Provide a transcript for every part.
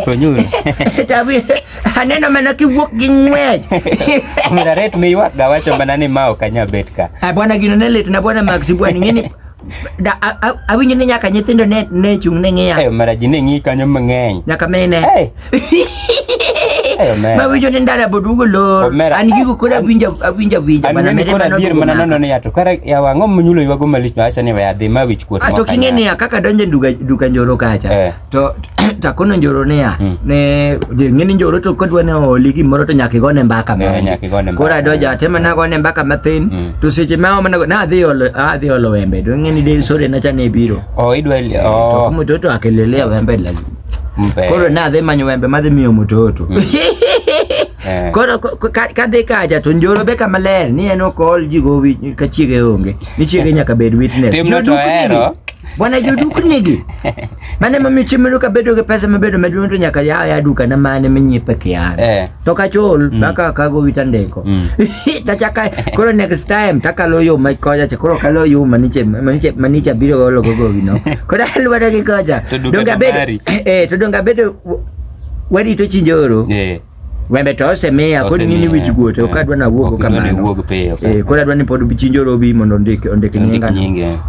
To nyu. Tabi, aneno mana kiwuok gi ng'wech. Mira ret mi ywak ga wacho mana ni ma ok anya bet ka. Ah, bwana gino ne lit na bwana Max bwana ingeni da a- a- awinjo ni nyaka nyithindo ne ne chung ne ng'iya Eh mara ji ne ng'i kanyo mang'eny. nyaka mine Eh. Eh mara. ma winjo ni ndara bodugo lor Omera. an gigo kod awinjo awinjo awinjo An mana ng'eni mede kora mana dhier odugo mana naka. nono ni ato kara ya wang'o munyulo ywago malich wacho ni we adhi ma wich kuot ato moko king'e kanya. niya kaka donjo e duka duka njoro kacha Eh. to takono njoro niya hmm. ne ng'eni njoro to kodwa ne oli gimoro to nyaka igone mbaka moro eh, koro adoja atema na gone mbaka mathin hmm. to seche ma omana na adhi olo adhi olo wembe to ng'eni de sore na chane biro o oh, idwa eh, o oh. mtoto akelelea wembe la koro na adhi manyo wembe madhi miyo mtoto hmm. eh. koro kadhi kacha to njoro be kama ler ni en ok ol ji gowi ka chiege onge ni chiege nyaka bed witness timno to hero Bwana joduknigi mane mamiyo chiemeno ka bedo gi pesa mabedo maduong' to nyaka yaw ya duka na mane minyiepe kian eh. to kachol mm. baka kago wita ndiko mm. tachaka koro next time takalo yo ma koja cha koro kalo yo maniche maniche maniche biro golo gogo gino koro alwada gi koja donga bedo eh to donga bedo wadi to chinjoro eh Wembe to osemiya kod ngini wich guote ok adwa na wuogo kamano. Eh, kod adwa ni pod bichinjo robi mondo ondik ondik nyinga. Nyinga.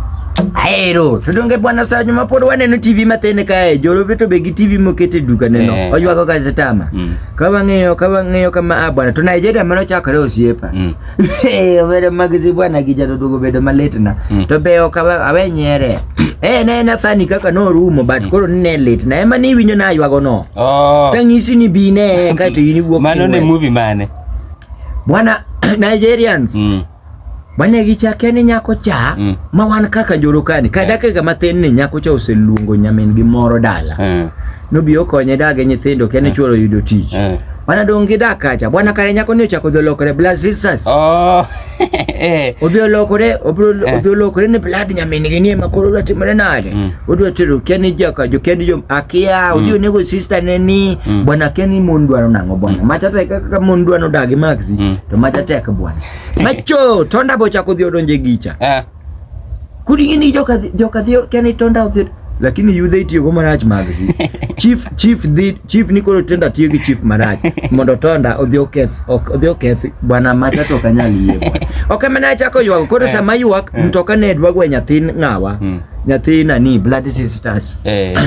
Aero, to donge bwana Sanyu ma pod waneno TV matin kae, jorobe to be gi TV mokete duka neno. Eh, Oywago gazetama. Mm. Ka wang'iyo, ka wang'iyo kama a ah, bwana, to Nigeria mano chakore osiepa. Mm. Eh, obedo magisi bwana kijana dogo bedo malitna mm. to be ok awe nyere eh ne na fani kaka no rumo but mm. koro ne lit na ema ni winyo na ywago no oh. tangisi ni bi ne ka to yini wuok mano ne movie mane bwana Nigerians mm. bwana gichake ni nyako cha mm. ma wan kaka jorokani kadake eh. ga mathin ni nyako cha oseluongo nyamin gi moro dala mm. Nobi okonye dage nyithindo kia ne chuoro yudo tich. Eh. Mana dong' gi dak kacha. Bwana kare nyako ni ochako odhi olokore blood sisters. Oh. Eh. Odhi olokore, obro Eh. odhi olokore ni blood nyamin gi nie makoro odwa timore nade. Mm. Odwa tero kia ni jaka jo kendi jo akia odhi onego sister ne ni Mm. bwana kia ni mon dwaro nang'o bwana. Macha tek kaka mon dwaro dagi maxi Mm. to macha tek bwana. Macho tonda bochako odhi odonje gicha. Eh. kudi gini joka joka thio kani tonda othio lakini yudhe itiyo go marach magsi chief chief dhi chief ni koro tenda tiyo gi chief marach mondo tonda odhi oketh ok odhi oketh bwana mata to kanyal yie bwana ok mana achako ywak koro eh. sama ywak eh. mtoka ne dwa gwe nyathin ngawa hmm. nyathi nani blood sisters eh.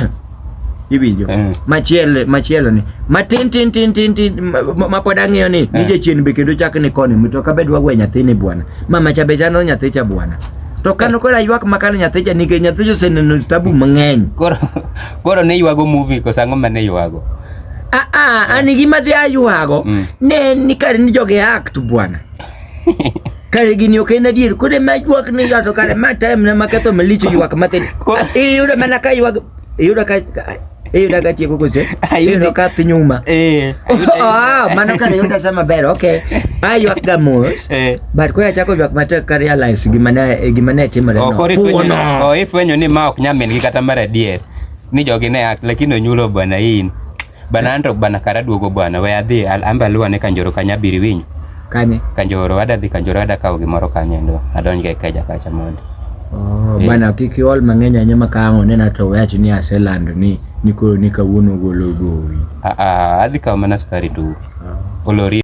iwinjo eh. machielo machielo ni matin tin tin tin tin ma pod ang'iyo ni nije eh. chien be kendo chak ni koni mito ka bedwa gwe nyathi ni bwana mama cha be chano nyathi cha bwana to kano kora ywak makano nyathi cha nikech nyathi cha oseneno tabu mang'eny koro koro ne ywago movie kosa ang'o ma ne ywago a ah, a ah, ani gima dhi aywago mm. ne ni kare ni joge act bwana kare gini ok en adier kode ma ywak ni to kare ma time na maketho malicho ywak mathin iyudo mana ka ywak iyudo ka iyudo ka tieko kose iyudo ka piny uma eh, ah, mano kare yuda sa maber ok aywak ga mos eh. but koro achako ywak matek ka realize gima ne gima ne timore no oh, ifwenyo ni ma ok nyamin gi kata mar adier ni jogi ne lakini onyulo bwana in Bana anto bana kara duogo bwana we adhi al- amba aluwa ne kanjoro kanya abiri winyo Kanye? kanjoro ada dhi kanjoro ada kawo gimoro kanye ndo adonj ga ikeja kacha mondo Oh, Eh. bana kik iol mang'eny ahinya ma ka ang' onena to we awachi ni aselando ni ni koro ni kawuono ogolo gowi. Ah, ah, adhi kawo mana sukari tu olori